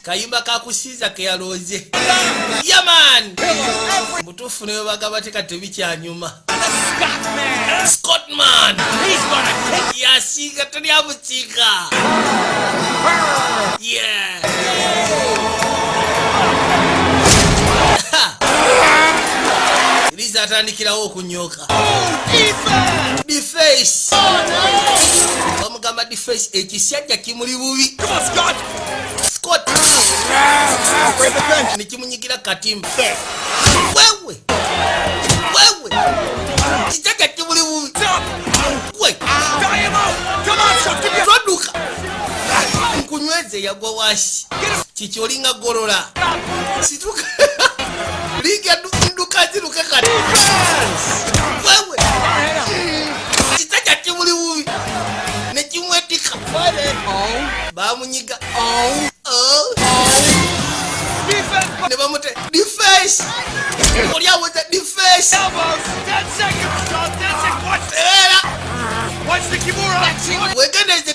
kayimba kakusiiza keyalooze yaman mutuufu newe bagaba teka tebikyanyuma scotman yasiiga tali amusiiga liza atandikirawo okunyoka bamugamba dface ekisajja kimuli bubi nekimunyigira katimba wewe wewe kisajja kimuli bubi toduka nkunyweze yagwa wasi kiki olinga golola situka liga nduka ziruka kati wewe kita kya kimuli bubi ne kimwetika bamunyiga oh. Oh. ne bamute defense oli awoza defense era wegendeeze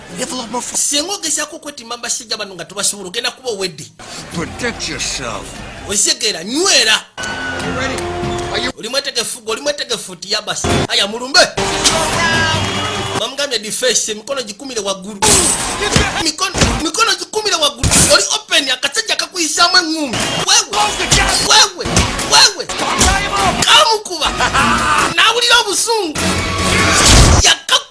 singa ogezaako okwetima basajja bano nga tobasobola ogenda kuba owedde okisegeera nywera oli mwetegefu gwe oli mwetegefu ti yabasi aya mulumbe bamugambye difesi emikono gikumire waggulu mikono gikumire waggulu oli open akasajja kakuyisaamu eŋŋumbi wewe wewe kamukuba nawulira obusungu yakaku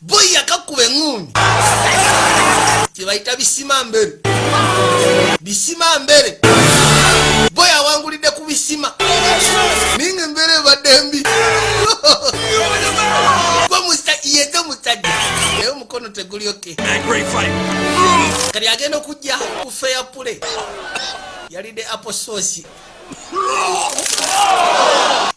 boyi yakakuba eŋuunyi kyebayita bisima mbere bisima mbere boyi awangulidde ku bisima ninga embeera ebadde mbi yete musajja naye omukono tegulyoke kati agenda okujja ku feya pule yalidde apososi